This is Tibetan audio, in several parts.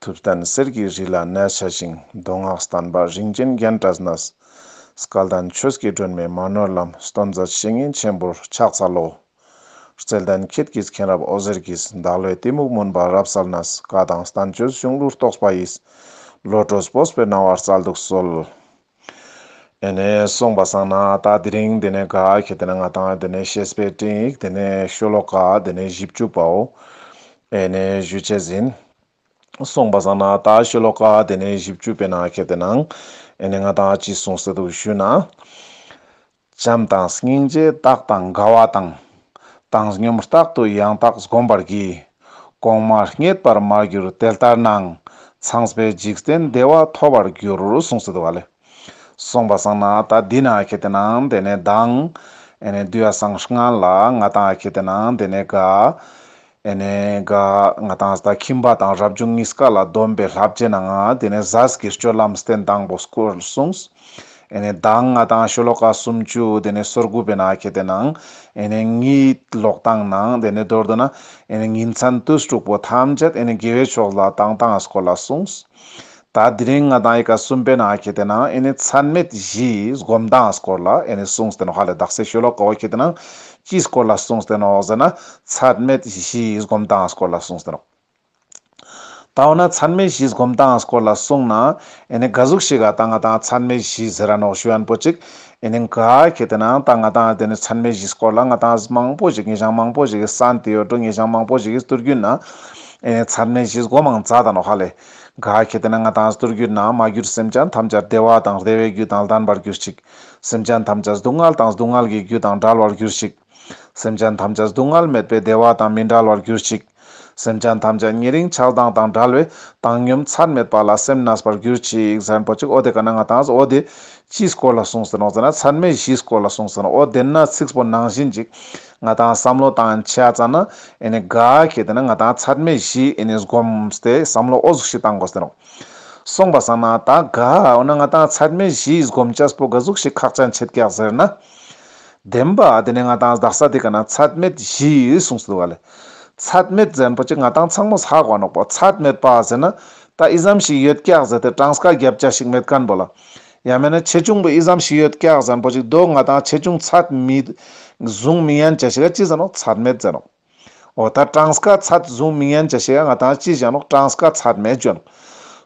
ཐུབ་བསྟན་གསེར་གྱི་རི་ལ་གནས་བྱ་ཞིང་མདོ་སྔགས་བསྟན་པ་རིན་ཆེན་རྒྱན་བཀྲ་སྣསྐལ་ལྡན་ཆོས་སྐྱེས་སྒྲོན་མེ་མ་ནོར་ལམ་སྟོན་མཛད་བཤེས་གཉེན་ཆེན་པོར་ཕྱག་འཚལ་ལོ། རྩལ་ལྡན་ཁྱེད་ཀྱིས་མཁན་རབས་ཨོ་ཟེར་གྱིས་བདག་བློའི་གཏི་མུག་མུན་པ་རབ་བསལ་སྣསཀ་དང་བསྟན་བཅོས་གཞུང་ལུགས་རྟོགས་པ་ཡིས། བློ་གྲོས་བོས་པའི་སྣང་བ་རྩལ་དུ་གསོལ། ཨེ་ནས་སོང་བ་སང་ན་ད་དེ་རིང་དེ་ནས་ག་ཁྱེད་དེ་ན་ང་དང་དེ་ནས་ཤེས་པས་ཏིག་དེ་ནས་ཤོ་ལོ་ཀ་དེ་ནས་བཞི་བཅུ་པའོ། ཨེ་ནས་བཞུ་བྱས་ཟིན། སོང་བ་སང་ན་ད་ཤོ་ལོ་ཀ་དེ་ནས་བཞི་བཅུ་པའི་ན་ཁྱེད་དེ་ན་ཨེ་ནས་ང་དང་ཅི་གསུང་ཟེར་འདུག་ཞུས་ན། བྱམས་དང་སྙིང་རྗེ་རྟག་དང་དགའ་བ་དང། བཏང་སྙོམས་རྟག་ཏུ་ཡང་དག་བསྒོམ་པར་བགྱི། གོང་མ་རྙེད་པར་མར་གྱུར་དེ་ལྟར་སྣང། ཚངས་པའི་འཇིག་རྟེན་བདེ་བ་ཐོབ་པར་འགྱུར་གསུངས་སོ། དུ་བ་ལས། གསུངས་པ་བཟང་ན་ད་འདི་ན་ཨཁེ་དེ་ན་འདི་ནས་ལྡང། ཨེ་ནས་བསྡུས་ཨ་བཟང་སྔགས་ལ་ང་དང་ཨཁེ་དེ་ན་འདི་ནས་དགའ། དེ་ནས་ག་ང་དང་ཟླ་ཁྱིམ་པ་དང་རབ་བྱུང་གཉིས་ཀ་ལ་སྡོམ་པའི་ལྷ་བསྐྱེད་ན་ང་དེ་ནས་གཟའ་ཟགས་ཀྱི་སྤྱོད་ལམ་སྟན་དང་པོ་སྐོར་གསུངས། དེ་ནས་གདངས་ལྔ་དང་ཤོ་ལོ་ཀ་སུམ་བཅུ་དེ་ནས་སོར་དགུ་བས་ན་གལ་ཏེ་ན། དེ་ནས་གཉིད་ལོག་དང་ན་དེ་ནས་རྡོར་དུ་ན། དེ་ནས་ཉིན་མཚན་དུས་དྲུག་པོ་ཐམས་ཅད་དེ་ནས་དགེ་བའི་ཕྱོགས་ལ་དང་དང་ངས་སྐོར་ལ་གསུངས། ད་དེ་རིང་ང་དང་ཡི་ག་གསུམ་པའི་ནང་ཁྱེད་དེ་ནང་ཨེ་ནི་ཚད་མེད་བཞིའི་སྒོམ་མདངས་སྐོར་ལ་ཨེ་ནི་གསུངས་ཏེ་ནོ་ཧ་ལས་བདག་སའི་ཤོ་ལོ་ཀ་བ་ཁྱེད་དེ་ནང་ཅིའི་སྐོར་ལ་གསུངས་ཏེ་ནོ་ཟེར་ན་ཚད་མེད་བཞིའི་སྒོམ་མདངས་སྐོར་ལ་གསུངས་ཏེ་ནོ། ད་འོ་ན་ཚད་མེད་བཞིའི་སྒོམ་མདངས་སྐོར་ལ་གསུངས་ན་ཨེ་ནི་ག་གཟུགས་ཤིག་ག་ད་ང་དང་ཚད་མེད་བཞི་ཟེར་ར་ནོ་ཤུ་ཡན་པོ་ཅིག་ཨེ་ནི་ག་ཁྱེད་དེ་ནང་ད་ང་དང་དེ་ནི་ཚད་མེད་བཞི་སྐོར་ལ་ང་དང་གཟུགས་མང་པོ་ཞིག་ངེས་བྱང་མང་པོ་ཞིག་གི་ས་འདི་ཡོད་འགྲོ་ངེས་བྱང་མང་པོ་ཞིག་གི་སྟུར་རྒྱུན་ན་ཨེ་ནི་ཚད་མེད་བཞིའི་སྒོ་མང་ཛ་ད་ནོ་ཧ་ལས་ག་གེ་དེ་ན་ང་དང་སྡུར་གྱུར་ན་མ་གྱུར་སེམས་ཅན་ཐམས་ཅད་བདེ་བ་དང་བདེ་བའི་རྒྱུ་དང་ལྡན་པར་གྱུར་ཅིག། སེམས་ཅན་ཐམས་ཅད་སྡུག་བསྔལ་དང་སྡུག་བསྔལ་གྱི་རྒྱུ་དང་འདྲལ་བར་གྱུར་ཅིག། སེམས་ཅན་ཐམས་ཅད་སྡུག་བསྔལ་མེད་པའི་བདེ་བ་དང་མི་འདྲལ་བར་གྱུར་ཅིག། སེམས་ཅན་ཐམས་ཅད་ཉེ་རིང་ཆགས་སྡང་དང་འདྲལ་བས་བཏང་སྙོམས་ཚད་མེད་པ་ལ་སེམས་ན་བར་གྱུར་ཅིག་གཟན་པོ་གཅིག་ཨོ་དེ་ག་ན་ང་དང་ཨོ་དེ། ཅིའི་སྐོར་ལ་གསུངས་ཟེར་རོང་ཟེར་ན་ཚད་མེད་བཞིའི་སྐོར་ལ་གསུངས་ཟེར་རོང་ཨོ་དེ་ན་ཚིགས་པོ་ནང་བཞིན་ཅིག། ང་དང་བསམ་བློ་དང་ཆ་ཙང་ན་ཨེ་ནི་དགའ་ཁྱེད་དེ་ན་ང་དང་ཚད་མེད་བཞི་ཨེ་ནི་སྒོམས་ཏེ་བསམ་བློ་ཨོ་ཟུག་ཤིག་བཏང་དགོ་ཟེར་རོ། སོང་བ་བསམ་ན་ད་དགའ་འོ་ན་ང་དང་ཚད་མེད་བཞི་སྒོམས་ཅཱ་སྤོ་དགའ་ཟུག་ཤིག་ཁག་ཅཱ་མཆེད་ཀྱག་ཟེར་ན། བདེན་པ་དེ་ནས་ང་དང་བདག་ས་དེ་ག་ན་ཚད་མེད་བཞི་གསུངས་སུ་འདུག་ག་ལེ། ཚད་མེད་ཟེར་པོ་ཅི་ང་དང་ཚང་མོ་ཟ་གོ་ནོག་པོ་ཚད་མེད་པ་ཟེར་ན། ད་ཨི་ཟམ་ཞིག་ཡོད་ཀྱག་ཟེར་ཏེ་སྤྲང་སྐ་རྒྱབ་ཅཱ་ཞིག་མེད་ཀན་པོ་ལ། ཡང་མིན་ན་ཆེ་ཆུང་པོ་ཨི་ཙམ་ཞིག་ཡོད་སྐྱག་ཟན་པོ་ཞིག་འདུག་ང་དང་ཆེ་ཆུང་ཚད་མེད་བཟུང་མི་ཡན་ཅི་ཞིག་ཅི་ཟེར་རོགས་ཚད་མེད་ཟེར་རོགས། འོ་ད་ཀྲང་སྐ་ཚད་བཟུང་མི་ཡན་ཅི་ཞིག་ང་དང་ཅི་བྱེད་རོགས་ཀྲང་སྐ་ཚད་མེད་བྱོན།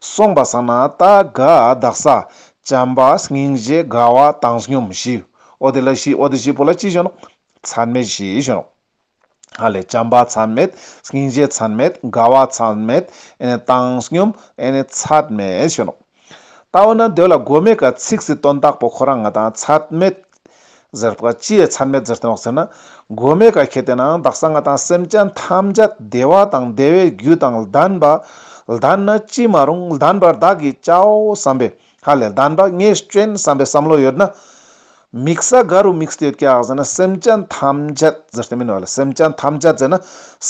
སོང་པ་ཟ་ན་ད་ག་བདག་ས། བྱམས་པ་སྙིང་རྗེ་དགའ་བ་བཏང་སྙོམས་ཞི། འོ་དེ་ལ་ཞི་འོ་དེ་ཞི་པོ་ལ་ཅི་བྱོན་རོགས། ཚད་མེད་ཞི་བྱོན་རོགས། ཨ་ལས་བྱམས་པ་ཚད་མེད། སྙིང་རྗེ་ཚད་མེད། དགའ་བ་ཚད་མེད། བཏང་སྙོམས་ཚད་མེད། ཞེས་ནོ། ལྟ་བ་ན་འདོད་ལ་སྒོ་མེད་ཀྱི་ཚིག་ཟིན་དོན་དག་པོ་ཁོ་རང་ང་དང་ཚད་མེད། ཟེར་བ་ཅི་ཡི་ཚད་མེད་ཟེར་དོན་འོག་ཟེར་ན། སྒོ་མེད་ཀ་ཁྱེད་དེ་ནའང་བདག་སང་ང་དང་སེམས་ཅན་ཐམས་ཅད་བདེ་བ་དང་བདེ་བའི་རྒྱུ་དང་ལྡན་པ། ལྡན་ན་ཅི་མ་རུང་ལྡན་པར་བདག་གིས་བྱའོ་བསམ་པས། ཧ་ལས་ད་འདྲ་ངས་སྐྱོན་བསམ་པའི་བསམ་བློ་ཡོད་ན། དམིགས་ས་ག་རུ་དམིགས་ས་ཡོད་ཀྱང་ཟེར་ན་སེམས་ཅན་ཐམས་ཅད་ཟེར་ཏེ་མིན་བ་ལ་སེམས་ཅན་ཐམས་ཅད་ཟེར་ན་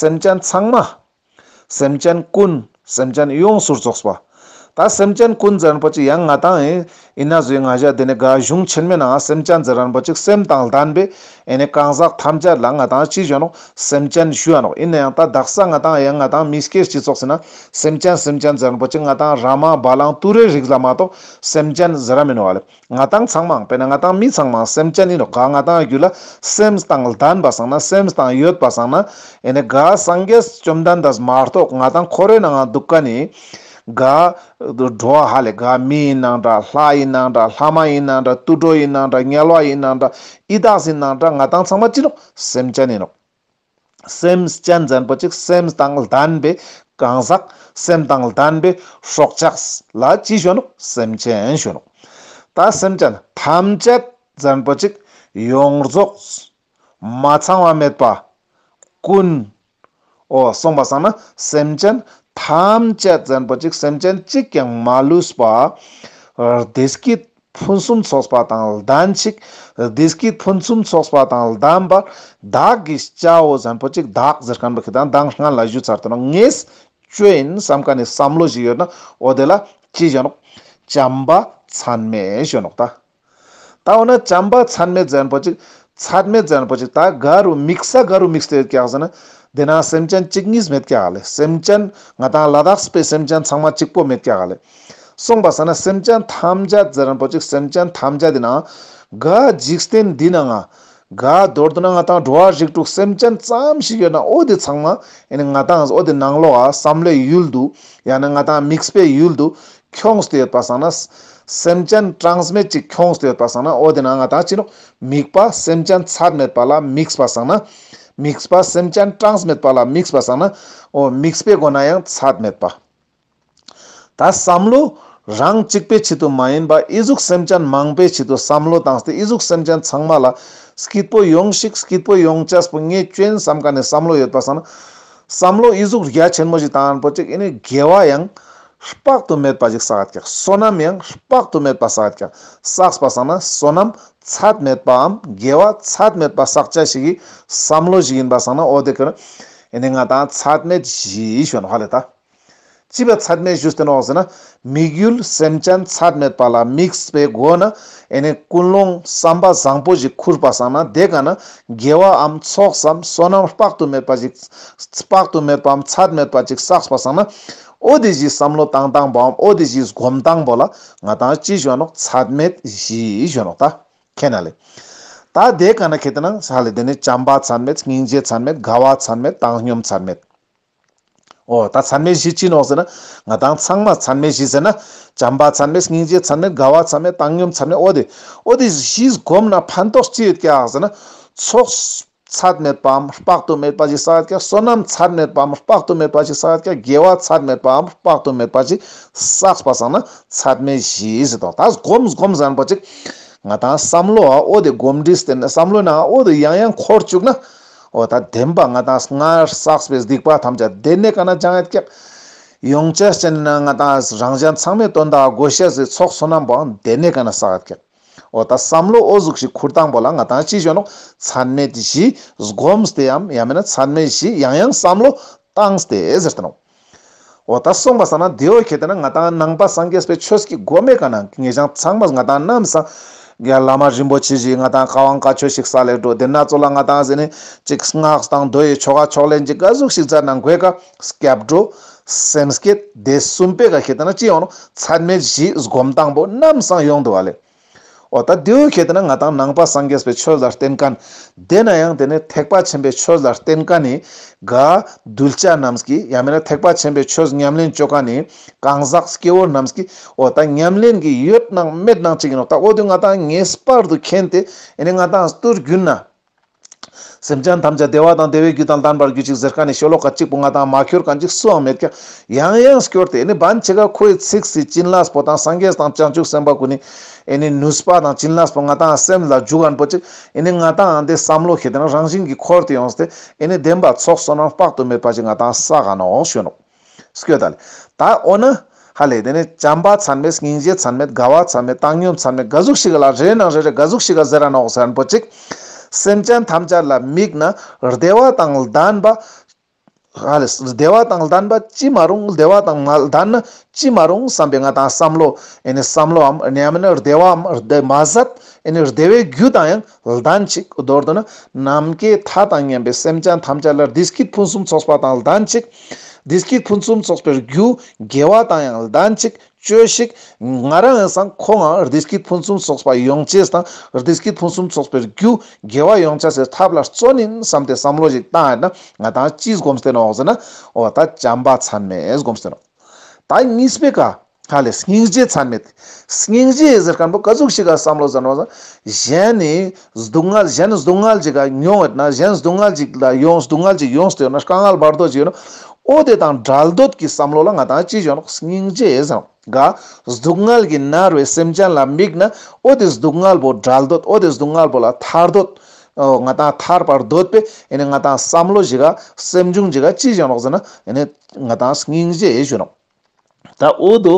སེམས་ཅན་ཚང་མ། སེམས་ཅན་ཀུན། སེམས་ཅན་ཡོངས་སུ་རྫོགས་པ། ད་སེམས་ཅན་ཀུན་ཟེར་པོ་ཅིག་ཡང་ང་དང། ཡིན་ན་བཟོས་ང་བཞག་དེ་ནས་དགའ་གཞུང་ཆེན་མོའི་ནང་སེམས་ཅན་ཟེར་རན་པོ་ཅིག་སེམས་དང་ལྡན་པའི་ཨེ་ནས་གང་ཟག་ཐམས་ཅད་ལ་ང་དང་ཅི་བྱུང་ནོ། སེམས་ཅན་ཞུ་བ་ནོ། ཡིན་ན་ཡང་ད་བདག་ས་ང་དང་ཡང་ང་དང་མི་སྐྱེ་སྤྱི་ཚོགས་ཟིན་ན། སེམས་ཅན་སེམས་ཅན་ཛེར་པོ་ཆེ་ང་དང་ར་མ་བ་ལང་ཏུ་རའི་རིགས་ལ་མ་གཏོགས་སེམས་ཅན་ཟེར་ར་མིན་ནོ། ང་དང་ཚང་མང་དཔེར་ན་ང་དང་མི་ཚང་མང་སེམས་ཅན་ཡིན་ནོ་ག་ང་དང་རྒྱུད་ལ་སེམས་དང་ལྡན་པ་བཟང་ན་སེམས་དང་ཡོད་པ་བཟང་ན། ཨེ་ནས་ག་སངས་རྒྱས་བཅོམ་ལྡན་འདས་མ་གཏོགས་ང་དང་ཁོ་རའི་ནང་འང་འདུག་ག་ནི། དགའ། འགྲོ་བ་ཧ་ལས་དགའ། མི་ཡི་སྣང་གྲགས་ལྷ་ཡི་སྣང་གྲགས་ལྷ་མ་ཡི་སྣང་གྲགས་དུད་འགྲོ་ཡི་སྣང་གྲགས་ཉལ་བ་ཡི་སྣང་གྲགས་ཨི་དྭགས་སི་སྣང་གྲགས་ང་དང་ཚང་མ་ཅི་ནོ། སེམས་ཅན་ཡིན་ནོ། སེམས་ཅན་བཙན་པོ་ཅིག་སེམས་དང་ལྡན་པའི་གང་ཟག་སེམས་དང་ལྡན་པའི་སྲོག་ཆགས་ལ་ཅི་ཞོན་ནོ་སེམས་ཅན་ཞོན་ནོ། ད་སེམས་ཅན་ཐམས་ཅད་བཙན་པོ་ཅིག་ཡོངས་རྫོགས་མ་ཚང་བ་མེད་པ་ཀུན། འོ་གསུངས་པ་བསམ་ན་སེམས་ཅན་ཐམས་ཅད་བཙན་པོ་གཅིག་སེམས་ཅན་གཅིག་ཀྱང་མ་ལུས་པ། བདེ་སྐྱིད་ཕུན་སུམ་ཚོགས་པ་དང་ལྡན་གཅིག་བདེ་སྐྱིད་ཕུན་སུམ་ཚོགས་པ་དང་ལྡན་པ། བདག་གི་སྐྱ་བོ་བཙན་པོ་གཅིག་བདག་གཟེར་ཁང་པའི་ཁི་དང་མདངས་སྔར་ལ་བཞུད་ཚར་དུ་ན་ངེས་བཅོས་ཡིན་བསམ་ག་ནས་བསམ་བློ་ཞིག་ཡོད་ན་འོ་དེ་ལ་ཅི་བྱ་ནོ། བྱམས་པ་མཚན་མས་བྱོན་ནོ་ད། ད་འོ་ན་བྱམས་པ་ཚད་མེད་ཙན་པོ་ཅིག་ཚད་མེད་ཙན་པོ་ཅིག་ད་ག་རུ་དམིགས་ས་ག་རུ་དམིགས་ཏེ་བཀྱག་ཟེར་ན། དེ་ན་སེམས་ཅན་གཅིག་གཉིས་མེད་བཀྱག་ལེ་སེམས་ཅན་ང་དང་ལ་དྭགས་པའི་སེམས་ཅན་ཚང་མ་གཅིག་པོ་མེད་བཀྱག་ལེ། གསུངས་པ་ཟེར་ན་སེམས་ཅན་ཐམས་ཅད་ཙན་པོ་ཅིག་སེམས་ཅན་ཐམས་ཅད་དེ་ན་ག་འཇིག་རྟེན་འདི་ན་ང་དགའ་འདོད་དུ་ན་ང་དང་འགྲོ་བ་རིགས་དྲུག་སེམས་ཅན་ཙམ་ཞིག་ཡོད་ན་ཨོ་དེ་ཚང་མ་ཡང་ན་ང་དང་ཨོ་དེ་ནང་ལོགས་བསམ་བློའི་ཡུལ་དུ་ཡང་ན་ང་དང་དམིགས་པའི་ཡུལ་དུ་འཁྱོངས་སྟེ་ཡོད་པ་བསམ་ན། སེམས་ཅན་གྲངས་མེད་ཅིག་འཁྱོངས་སྟེ་ཡོད་པ་བསམ་ན་ཨོ་དེ་ན་ང་དང་ཕྱི་ནང་དམིགས་པ་སེམས་ཅན་ཚད་མེད་པ་ལ་དམིགས་པ་བསམ་ན། དམིགས་པ་སེམས་ཅན་གྲངས་མེད་པ་ལ་དམིགས་པ་བསམ་ན། ཨོ་དམིགས་པའི་སྒོ་ན་ཡང་ཚད་མེད་པ། ད་བསམ་བློ། རང་གཅིག་པའི་ཆེད་དུ་མ་ཡིན་པ་ཨི་གཟུགས་སེམས་ཅན་མང་པའི་ཆེད་དུ་བསམ་བློ་བཏང་སྟེ་ཨི་གཟུགས་སེམས་ཅན་ཚང་མ་ལ། སྐྱིད་པོ་ཡོང་ཞིག་སྐྱིད་པོ་ཡོང་བྱས་པོ་ངས་སྐྱོན་བསམ་ག་ནས་བསམ་བློ་ཡོད་པ་བསམ། བསམ་བློ་ཨི་གཟུགས་རྒྱ་ཆེན་མོ་ཞིག་བཏང་ཡོད་པོ་ཅིག་ཨི་ནི་དགེ་བ་ཡང། དཔག་ཏུ་མེད་པ་ཞིག་བསགས་ཀྱང་བསོད་ནམས་ཡང་དཔག་ཏུ་མེད་པ་བསགས་ཀྱང་བསགས་པ་བསགས་ན་བསོད་ནམས་ཚད་མེད་པའམ་དགེ་བ་ཚད་མེད་པ་བསགས་བྱ་ཞིག་གིས་བསམ་བློ་ཞིག་ཡིན་པ་བསགས་ན་ཨོ་དེ་ཀོན། ཨི་ནི་ང་དང་ཚད་མེད་བཞིའི་གཞོན་བྷ་ལེ་ད། བྱིས་པའི་ཚད་མའི་གཞུ་སྟོན་འོག་ཟིན་ན། དམིགས་ཡུལ་སེམས་ཅན་ཚད་མེད་པ་ལ་དམིགས་པའི་སྒོ་ནས་ཨེ་ནས་ཀུན་སློང་བསམ་པ་བཟང་པོ་ཞིག་ཁུར་པ་བསགས་ན་དེ་ག་ན་དགེ་བའམ་ཚོགས་སམ་བསོད་ནམས་དཔག་ཏུ་མེད་པ་ཞིག་དཔག་ཏུ་མེད་པའམ་ཚད་མེད་པ་ཅིག་བསགས་པ་བསགས་ན། ཨོ་དེ་བཞིའི་བསམ་བློ་བཏང་དང་པོའམ་ཨོ་དེ་བཞིའི་སྒོམ་དང་པོ་ལ་ང་དང་ཅི་གཞོན་ནོ་ཚད་མེད་བཞིའི་གཞོན་ནོ་ད་ཁེ་ན་ལེ། ད་དེ་ག་ན་ཁེ་དེ་ན་ས་ལེ་དེ་ནས་བྱམས་པ་ཚད་མེད་སྙིང་རྗེ་ཚད་མེད་དགའ་བ་ཚད་མེད་བཏང་སྙོམས་ཚད་མེད། ཨོ། ད་མཚན་མའི་གཞི་ཅི་ནོ་ཟེར་ན། ང་དང་ཚང་མ་མཚན་མའི་གཞི་ཟེར་ན། བྱམས་པ་མཚན་མས་སྙིང་རྗེ་མཚན་མས་དགའ་བ་མཚན་མས་བཏང་སྙོམས་མཚན་མས་ཨོ་དེ། ཨོ་དེ་གཞི་བསྒོམས་ན་ཕན་ཐོགས་ཅི་ཡོད་ཀྱང་ཟེར་ན། ཚོགས། ཚད་མེད་པའམ་དཔག་ཏུ་མེད་པ་ཞིག་བསགས་ཡོད་ཀྱང་བསོད་ནམས་ཚད་མེད་པའམ་དཔག་ཏུ་མེད་པ་ཞིག་བསགས་ཡོད་ཀྱང་དགེ་བ་ཚད་མེད་པའམ་དཔག་ཏུ་མེད་པ་ཞིག་བསགས་པ་བསགས་ན་ཚད་མའི་གཞི་ཟེར་ཏོ། ད་བསྒོམ་བསྒོམ་ཟེར་ན་པོ་ཅིག། ང་དང་བསམ་བློའང་ཨོ་དེ་བསྒོམ་དྲིས་ཟེར་ནས་བསམ་བློའི་ནང་ཨོ་དེ་ཡང་ཡང་འཁོར་བཅུག་ན། འོ་ད་བདེན་པ་ང་དང་སྔར་བསགས་པའི་སྡིག་པ་ཐམས་ཅད་བདེན་གནས་ཀ་ན་ཅང་ཀྱག། ཡོངས་ཆད་ཅན་ན་ང་དང་རང་གཞན་ཚང་མས་དོན་དག་བགོ་བཤའ་བཟོས་ཚོགས་བསོད་ནམས་པའང་བདེན་གནས་ཀ་ན་བསགས་ཀྱག། འོ་ད་བསམ་བློ་ཨོ་གཟུགས་ཞིག་ཁུར་དང་པོ་ལ་ང་དང་ཅི་བྱོན་ནོ་ཚད་མེད་བཞི་བསྒོམས་ཏེ་འམ་ཡང་མིན་ན་ཚད་མེད་བཞི་ཡང་ཡང་བསམ་བློ་བཏང་སྟེ་ཟེར་ཏེ་ནོ། འོ་ད་སོང་བ་ས་ན་དེ་འོ་གེ་དེ་ན་ང་དང་ནང་པ་སངས་རྒྱས་པའི་ཆོས་ཀྱི་སྒོ་མེད་ག་ན་ངེས་ཀྱང་ཚང་མ་ང་དང་ནམ་སངས་རྒྱས་བླ་མ་རིན་པོ་ཆེ་བཞི་ང་དང་ཁ་དབང་བཀའ་ཆོས་ཤིག་ས་ལེ་འགྲོ་དེ་ན་ཚོ་ལ་ང་དང་ཟེ་ནས་ཅིག་སྔགས་དང་མདོ་ཡི་ཆོ་ག་ཕྱོགས་ལེན་གྱི་ཀ་གཟུགས་ཤིག་བཙལ་ན་དགོས་ག་སྐྱབས་འགྲོ། སེམས་བསྐྱེད། དེ་གསུམ་པས་ག་གེ་དེ་ན་ཅི་ཡོང་ནོ་ཚད་མེད་བཞི་སྒོམ་དང་པོ་ནམ་སངས་ཡོང་དུ་བ་ལེ། འོ་ད་དེའུ་གལ་ཏེ་ན་ང་དང་ནང་པ་སངས་རྒྱས་པའི་ཆོས་ལ་བརྟེན་ཀ་འདས་ན་ཡང་དེ་ནས་ཐེག་པ་ཆེན་པོའི་ཆོས་ལ་བརྟེན་ཀ་ནི་དགའ། གདུལ་བྱ་རྣམས་ཀྱི་ཡང་མེད་ན་ཐེག་པ་ཆེན་པོའི་ཆོས་ཉམས་ལེན་སྤྱོད་ཀ་ནི་གང་ཟག་སྐྱེ་བོ་རྣམས་ཀྱི་འོ་ད་ཉམས་ལེན་གྱི་ཡོད་སྣང་མེད་སྣང་ཅི་ཡིན་ནོ་ད་འོ་དུས་ང་དང་ངའི་སྤར་དུ་མཁྱེན་ཏེ་ནི་ང་དང་སྟོད་རྒྱུད་ན་སེམས་ཅན་ཐམས་ཅད་བདེ་བ་དང་བདེ་བའི་རྒྱུ་དང་ལྡན་པར་གྱུར་ཅིག་ཟེར་ཁ་ནས་ཤོ་ལོ་ཀ་གཅིག་པོ་ང་དང་མ་ཁྱོད་གང་ཅིག་སུའང་མེད་ཀྱང་ཡང་ཡང་སྐྱོར་ཏེ་ནི་བན་ཆེ་ཁ་ཁོའི་ཚིགས་སུ་བྱིན་ལགས་པོ་དང་སངས་རྒྱས་དང་བྱང་ཆུབ་སེམས་དཔའ་ཀུན་ནི་ནི་ནུས་པ་དང་བྱིན་ལགས་པོ་ང་དང་སེམས་ལ་འཇུག་ཨན་པོ་ཅིག་ནི་ང་དང་འདི་བསམ་བློ་ཞེས་ཏེ་ན་རང་བཞིན་གྱི་འཁོར་དུ་ཡོངས་སུ་སྟེ་ནི་བདེན་པ་ཚོགས་བསོད་ནམས་དཔག་ཏུ་མེད་པ་ཅིག་ང་དང་ས་ག་ནའོ་ཞོན་ནོ། སྐྱོ་དལ། ད་འོ་ན། ཧ་ལས་དེ་ནས་བྱམས་པ་ཚང་མས་སྙིང་རྗེ་ཚང་མས་དགའ་བ་ཚང་མས་བཏང་སྙོམས་ཚང་མས་དགའ་གཟུགས་ཤིག་ལ་རེ་ནང་རེ་རེ་དགའ་གཟུགས་ཤིག་ག་ཟེ་ར་ནོག་ཟེ་ར་འབོ་ཅིག། སེམས་ཅན་ཐམས་ཅད་ལ་དམིགས་ན་བདེ་བ་དང་ལྡན་པ། ཧ་ལས། བདེ་བ་དང་ལྡན་པ་ཅི་མ་རུང་བདེ་བ་དང་མ་ལྡན་ན་ཅི་མ་རུང་བསམ་པའི་ང་དང་བསམ་བློ། ཨེ་ནས་བསམ་བློའམ་ཨེ་ནས་ཡང་མིན་བདེ་བའམ་བདེ་མ་ཟད་ཨེ་ནས་བདེ་བའི་རྒྱུ་དང་ཡང་ལ་དྭངས་ཅིག། མདོར་བསྡུ་ན། ནམ་མཁའི་མཐའ་དང་མཉམ་པའི་སེམས་ཅན་ཐམས་ཅད་ལ་བདུད་ཀྱི་ཕུན་སུམ་ཚོགས་པ་དང་ལ་དྭངས་ཅིག། བདུད་ཀྱི་ཕུན་སུམ་ཚོགས་པའི་རྒྱུ། དགེ་བ་དང་ཡང་ལ་དྭངས་ཅིག། བཅོས་ཤིག། ང་རང་ཡང་སང་ཁོ་འང་བདུད་ཀྱི་ཕུན་སུམ་ཚོགས་པ་ཡོངས་སྐྱེས་དང་བདུད་ཀྱི་ཕུན་སུམ་ཚོགས་པའི་རྒྱུ། དགེ་བ་ཡོངས་བྱ་སའི་ཐབས་ལ་བརྩོན་ནི་བསམ་སྟེ་བསམ་བློ་ཞིག་བཏང་ཡ་ན་ང་དྭངས་ཅིག་སྒོམ་སྟེ་ནོག་ཟེར་ན་འོ་ད་བྱམས་པ་མཚན་མས་སྒོམ་སྟེ་ནོག། ད་གཉིས་པའི་ཀ། ཧ་ལས་སྙིང་རྗེ་མཚམས་མེད། སྙིང་རྗེ་ཡི་ཟེར་སྐམ་པོ་ཀ་གཟུགས་ཤིག་ག་བསམ་བློ་བཟང་བ། གཞན་ནི་སྡུག་བསྔལ་གཞན་ནི་སྡུག་བསྔལ་གྱིས་ཀ་མྱོང་བས་ན་གཞན་སྡུག་བསྔལ་གྱིས་ལ་ཡོང་སྡུག་བསྔལ་གྱིས་ཡོངས་སུ་དེ་ཡོད་ན་དཀའ་བསྔལ་བར་དོ་གཅིག་ཡོད་ན། ཨོ་དེ་དང་འདྲལ་འདོད་ཀྱི་བསམ་བློ་ལ་ང་དང་ཅི་བྱུང་ན་སྙིང་རྗེ་ཡི་ཟེར་ག། སྡུག་བསྔལ་གྱིས་མནར་བའི་སེམས་ཅན་ལ་དམིགས་ན་ཨོ་དེ་སྡུག་བསྔལ་བོ་འདྲལ་འདོད་ཨོ་དེ་སྡུག་བསྔལ་བོ་ལ་ཐར་འདོད། ཨོ་ང་དང་ཐར་བར་འདོད་པས་ཡེ་ནས་ང་དང་བསམ་བློ་གྱིས་ཀ་སེམས་བྱུང་གྱིས་ཀ་ཅི་བྱུང་ན་ཟེར་ན་ཡེ་ནས་ང་དང་སྙིང་རྗེ་ཡི་བྱུང་ན། ད་འོས་དུ།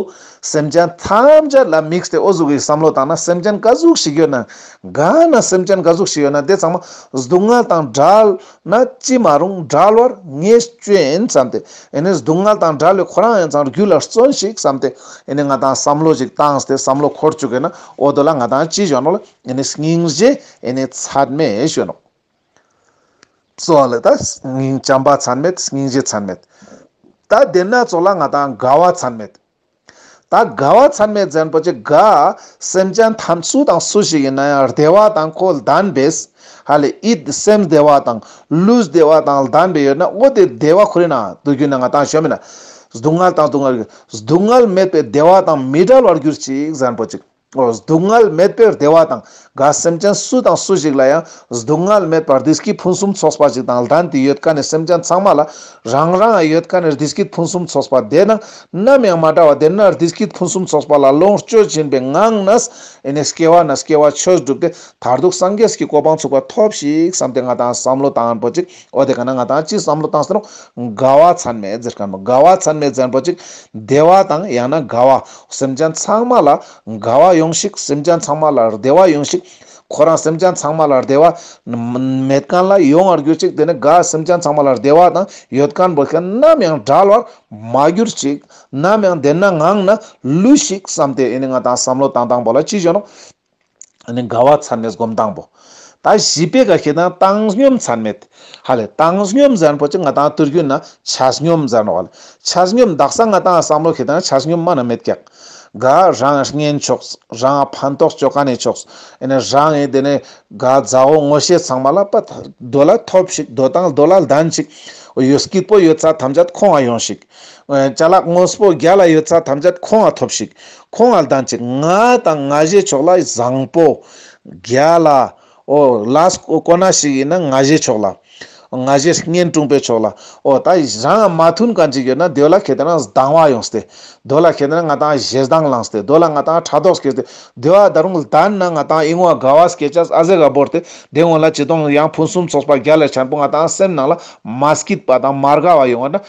སེམས་ཅན་ཐམས་ཅད་ལ་དམིགས་ཏེ་འོ་གཟུགས་ཀྱི་བསམ་བློ་བཏང་ན་སེམས་ཅན་ཀ་གཟུགས་ཤིག་ཡོད་ན། ག་ན་སེམས་ཅན་ཀ་གཟུགས་ཤིག་ཡོད་ན་དེ་ཚང་མ་སྡུག་བསྔལ་དང་བྲལ། ན་ཅི་མ་རུང་བྲལ་བར་ངེས་སྐྱོན་བསམ་སྟེ། ཨེ་ནས་སྡུག་བསྔལ་དང་བྲལ་བའི་ཁོ་རང་ཡང་ཚང་རྒྱུད་ལ་བརྩོན་ཞིག་བསམ་སྟེ། ཨེ་ནས་ང་དང་བསམ་བློ་ཞིག་བཏང་སྟེ་བསམ་བློ་འཁོར་བཅུག་གིན་ན་འོ་དོ་ལ་ང་དང་ཅི་གཞོན་ནོ་ལ་ཨེ་ནས་སྙིང་རྗེ་ཨེ་ནས་ཚད་མེད་གཞོན་ནོ། སོགས་ལ་དང། སྙིང་བྱམས་པ་ཚད་མེད་སྙིང་རྗེ་ཚད་མེད། དང་བདེན་སྣ་ཚོགས་ལ་ང་དང་དགའ་བ་ཚད་མེད། དང་དགའ་བ་ཚད་མེད་བཙན་པོ་ཆེ་དགའ། སེམས་ཅན་ཐམས་སུ་དང་སུ་ཞིག་ཡིན་ན་ཡང་བདེ་བ་དང་ཁོ་ལྡན་པས། ཧ་ལས་ཨིད་སེམས་བདེ་བ་དང་ལུས་བདེ་བ་དང་ལྡན་པས་ཡོད་ན་ཨོ་དེ་བདེ་བ་ཁོ་རེད་ན་དུ་གྱུར་ན་ང་དང་ཞོ་མེད་ན། སྡུག་བསྔལ་དང་སྡུག་བསྔལ་གྱི་སྡུག་བསྔལ་མེད་པས་བདེ་བ་དང་མི་འབྲལ་བར་གྱུར་ཅིག་བཙན་པོ་ཅིག། སྡུག་བསྔལ་མེད་པའི་བདེ་བ་དང་དགའ་སེམས་ཅན་སུ་དང་སུ་ཞིག་ལ་ཡང་སྡུག་བསྔལ་མེད་པར་རྡི་སྐྱིད་ཕུན་སུམ་ཚོགས་པ་ཞིག་དང་ལྡན་དུ་ཡོད་ཀ་ནས་སེམས་ཅན་ཚང་མ་ལ་རང་རང་ཡོད་ཀ་ནས་རྡི་སྐྱིད་ཕུན་སུམ་ཚོགས་པ་དེ་དང་ནམ་ཡང་མ་འདྲ་བ་དེ་ན་རྡི་སྐྱིད་ཕུན་སུམ་ཚོགས་པ་ལ་ལོངས་སྤྱོད་སྦྱིན་པའི་ངང་ན་སྐྱེ་བ་ན་སྐྱེ་བ་ཆོས་བསྒྲུབས་ཏེ་མཐར་ཐུག་སངས་རྒྱས་ཀྱི་གོ་འཕང་ཚུགས་པ་ཐོབས་ཤིག་བསམས་ཏེ་ང་དང་བསམ་བློ་དང་པོ་གཅིག་ཨོ་དེ་ག་ན་ང་དང་ཅིག་བསམ་བློ་བཏང་ཟེར་རོ། དགའ་བ་མཚན་མེད་ཟེར་ག་མ་དགའ་བ་མཚན་མེད་བཙན་པོ་ཅིག་བདེ་བ་དང་ཡང་ན་དགའ་བ། སེམས་ཅན་ཚང་མ་ལ་དགའ་བ་ཡོང་ཤིག་སེམས་ཅན་ཚང་མ་ལ་བདེ་བ་ཡོང་ཤིག། ཁོ་རང་སེམས་ཅན་ཚང་མ་ལ་བདེ་བ། མེད་ཀན་ལ་ཡོང་བར་གྱུར་ཅིག་དེ་ནས་དགའ་སེམས་ཅན་ཚང་མ་ལ་བདེ་བ་དང་ཡོད་ཀན་བོད་ཀན་ནམ་ཡང་བྲལ་བར་མ་གྱུར་ཅིག། ནམ་ཡང་བདེན་ན་ངང་ན་ལུས་ཤིག་བསམ་སྟེ་ཨེ་ནི་ང་དང་བསམ་བློ་བཏང་དང་པོ་ལ་ཅི་བྱོན་ནོ། ཨ་ནི་དགའ་བ་ཚར་མེད་སྒོམ་སྟངས་པོ། ད་བཞི་པའི་ག་ཤེད་ན་བཏང་སྙོམས་ཚར་མེད། ཧ་ལས་བཏང་སྙོམས་ཛར་པོ་ཅི་ང་དང་བརྟུལ་ཞུགས་ན་ཆ་སྙོམས་ཛར་ནོ་ཨ་ལས་ཆ་སྙོམས་བདག་ས་ང་དང་བསམ་བློ་ཤེས་དང་ཆ་སྙོམས་མ་ན་མེད་ཀྱང། དགའ་རང་བསྙེན་ཆོག་རང་ཕན་ཐོགས་སྤྱོད་ག་ནས་ཆོག་ཨ་ནི་རང་ཨེ་དེ་ནས་དགའ་བཛའ་བོ་ངོ་ཤེས་ཚང་མ་ལ་པ་ད་རྡོ་ལ་ཐོབ་ཤིག་རྡོ་དང་རྡོ་ལ་ལྡན་ཅིག་ཨོ་ཡོད་སྐྱིད་པོ་ཡོད་ཚ་ཐམས་ཅད་ཁོང་ཨ་ཡོང་ཤིག། བྱ་ལག་དངོས་པོ་བརྒྱ་ལ་ཡོད་ཚ་ཐམས་ཅད་ཁོང་ང་ཐོབ་ཤིག་ཁོང་ང་ལྡང་ཅིག་ང་དང་ང་བཞེས་ཆོག་ལ་བཟང་པོ། བརྒྱ་ལ། ཨོ། ལ་ཀོ་ན་ཞིག་ཡིན་ན་ང་བཞེས་ཆོག་ལ། ང་བཞེས་བསྙེན་དཀྲུང་པས་ཆོག་ལ། ཨོ་ད་རང་ཡང་མ་མཐུན་གང་ཅིག་ཡོད་ན་དོལ་ལ་གལ་ཏེ་ན་སྡང་བ་ཡོང་སྟེ། དོལ་ལ་གལ་ཏེ་ན་ང་དང་བཞེས་སྡང་བླངས་སྟེ་དོལ་ལ་ང་དང་ཕྲག་དོག་སྐྱེས་ཏེ་དོལ་བ་ད་རུང་ལྡན་ན་ང་དང་གཡེང་བ་དགའ་བ་སྐྱེས་ཅག་ཨ་ཟེ་ག་བོར་ཏེ་དེ་སྔོན་ལ་ཅི་སྟོང་ཡང་ཕུན་སུམ་ཚོགས་པ་བརྒྱ་ལས་ཆེན་པོ་ང་དང་སེམས་ནང་ལ་མ་སྐྱིད་པ་དང་མ་དགའ་བ་ཡོང་བ་ན།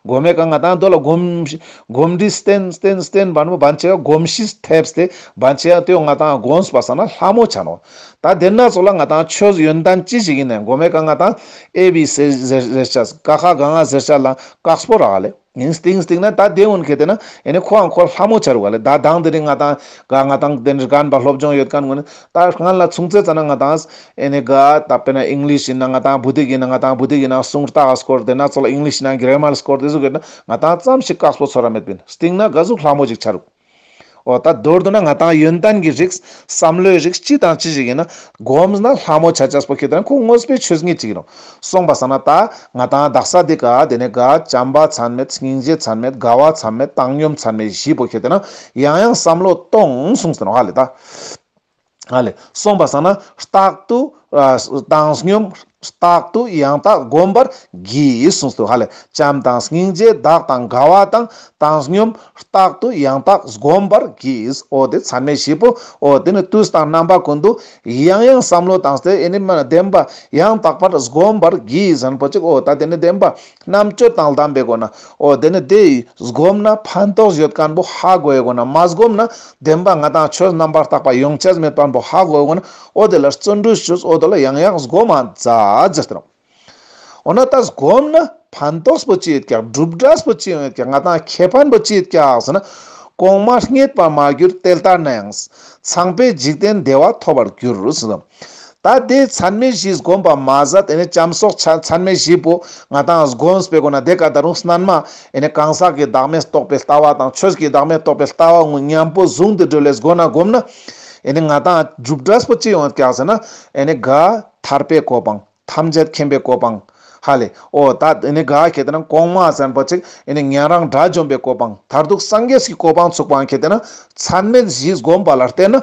སྒོ་མེད་ཀ་ང་དང་རྡོ་ལ་སྒོམ། སྒོམ་འདི་བསྟན། བསྟན་པ་ནི་བར་ཆད་སྒོམ་གཞི་ཐེབས་ཏེ་བར་ཆད་གཏོད་ང་དང་དགོངས་པ་ས་ན་ལྷ་མོ་བྱ་ནོ། ད་དེ་སྣ་ཚོགས་ལ་ང་དང་ཆོས་ཡོན་ཏན་ཅི་ཞིག་ཡིན་ནས་སྒོ་མེད་ཀ་ང་དང་ཨེ་བི་སེ་ཟེར་བྱ། ཀ་ཁ་ག་ང་ཟེར་བྱ་ལ་ཀག་སྤོ་ར་ག་ལས། ཡིན་བསྟིང་བསྟིང་ན་ད་དེ་འོན་ཁེ་དེ་ན་ཡེ་ནས་ཁོ་འང་ཁོ་ལྷ་མོ་བྱ་རུ་ག་ལས་ད་གདངས་དེ་རིང་ང་དང་ག་ང་དང་དེ་རིང་རྐན་པ་སློབ་སྦྱོང་ཡོད་ག་ངོ་ནི། ད་རྐན་ལ་མཚུངས་ཚད་ཙ་ན་ང་དང་ཨེ་ནི་གཱ། ད་པེ་ན་ཨིང་ལིས་ཡིན་ན་ང་དང་བུ་དེག་ཡིན་ན་ང་དང་བུ་དེག་ཡིན་ན་གསུང་རྟགས་སྐོར་དེ་ན་ཚོ་ལ་ཨིང་ལིས་ཡིན་ན་འགེལ་མལ་སྐོར་དེ་གཟུགས་ཡོད་ན་ང་དང་ཙམ་ཞིག་བཀག་སྤོ་ཚོ་ར་མེད་པིན་སྟིང་ན་གཱ་གཟུགས་ལྷ་མོ་ཅིག་ཆ་རུག། ཨོ་ད་མདོར་བསྡུ་ན་ང་དང་ཡོན་ཏན་གྱི་རིགས་བསམ་བློའི་རིགས་ཅི་དང་ཅི་ཞིག་ཡིན་ན་གོམས་ན་ལྷ་མོ་ཆ་ཆ་སྤོ་ཁེ་དེ་ན་ཁོ་དངོས་པོའི་ཆོས་ངེས་ཅིག་ཡིན་རུང་སོང་པ་ས་ན་ད་ང་དང་བདག་ས་དེ་ག་དེ་ནས་ག་བྱམས་པ་ཚན་མེད་སྙིང་རྗེ་ཚན་མེད་དགའ་བ་ཚན་མེད་བཏང་སྙོམས་ཚན་མེད་བཞི་སྤོ་ཁེ་དེ་ན་ཡང་ཡང་བསམ་བློ་གཏོང་སོང་ས་ནོ་ཧ་ལས་ད། ཨ་ལས་གསུངས་པ་ཟང་ན་རྟག་ཏུ། བཏང་སྙོམས་རྟག་ཏུ་ཡང་དག་བསྒོམ་པར་བགྱི་གསུངས་སོ། ཧ་ལས་བྱམས་དང་སྙིང་རྗེ་བདག་དང་དགའ་བ་དང། བཏང་སྙོམས་རྟག་ཏུ་ཡང་དག་བསྒོམ་པར་བགྱིས། ཨོ་དེ་ཚད་མེད་བཞི་པོ། ཨོ་དེ་ནི་བཏུས་དང་རྣམ་པ་ཀུན་ཏུ། ཡང་ཡང་བསམ་བློ་དང་བསྟོད་བསྔོས་ལྡན་པ། ཡང་དག་པར་བསྒོམ་པར་བགྱིས། རིན་པོ་ཆེ། ཨོ་ད་དེ་ནི་བདེན་པ། རྣམ་དཔྱོད་དང་ལྡན་པའི་སྒོ་ནས་འོ་དེ་ནི་དེ་བསྒོམས་ན་ཕན་ཐོགས་བརྗོད་དཀའ་འབོ་ཧ་གོ་བའི་སྒོ་ནས་མ་བསྒོམས་ན་བདེན་པ་ང་དང་ཁྱོད་རྣམ་པར་བརྟགས་པ་ཡོངས་ཁྱད་མེད་པར་འབོ་ཧ་གོ་བའི་སྒོ་ནས་འོ་དེ་ལ་བརྩོན་འགྲུས་བྱོས་འོ་དེ་ལ་ཡང་ཡང་བསྒོམ་མ་ཛར་ཏེ། འོ་ན་ད་བསྒོམས་ན་ཕན་ཐོགས་པོ་ཅི་ཡོད་ཀྱང་བསྒྲུབ་སྒྲ་པོ་ཅི་ཡང་ཡོད་ཀྱང་ང་དང་ཁྱེད་ཕན་པོ་ཅི་ཡོད་ཀྱང་ཟེར་ན། གོང་མ་རྙེད་པར་མ་གྱུར་དེ་ལྟར་ན་ཡང། ཚངས་པའི་འཇིག་རྟེན་བདེ་བ་ཐོབ་པར་འགྱུར། ད་དེ་མཚན་མའི་གཞི་བསྒོམས་པ་མ་ཟད་དེ་ནས་ལྕམ་སོགས་ཆ་མཚན་མའི་གཞི་པོ་ང་དང་བསྒོམས་པའི་སྒོ་ན་དེ་ཀ་ད་རུང་སྣལ་མ་ནས་གང་ཟག་གི་བདག་མེད་རྟོགས་པའི་ལྟ་བ་དང་ཆོས་ཀྱི་བདག་མེད་རྟོགས་པའི་ལྟ་བ་དངོས་མཉམ་པོ་བཟུང་སྟེ་སྒྲོལ་བའི་སྒོ་ན་བསྒོམས་ན། ང་དང་འཇུག་འབྲས་པོ་ཅི་ཡོང་བར་བཀག་ཟེར་ན། དགའ། ཐར་པའི་གོ་འཕང། ཐམས་ཅད་མཁྱེན་པའི་གོ་འཕང། ཧ་ལས། ཨོ། ད་དགའ་ཁྱེད་དེ་ན་གོང་མ་ཟན་པོ་ཅིག་ཉན་རང་དགྲ་བཅོམ་པའི་གོ་འཕང། མཐར་ཐུག་སངས་རྒྱས་ཀྱི་གོ་འཕང་ཚུགས་པའང་ཁྱེད་དེ་ན་མཚན་མའི་གཞི་བསྒོམས་པ་ལ་བརྟེན་ན་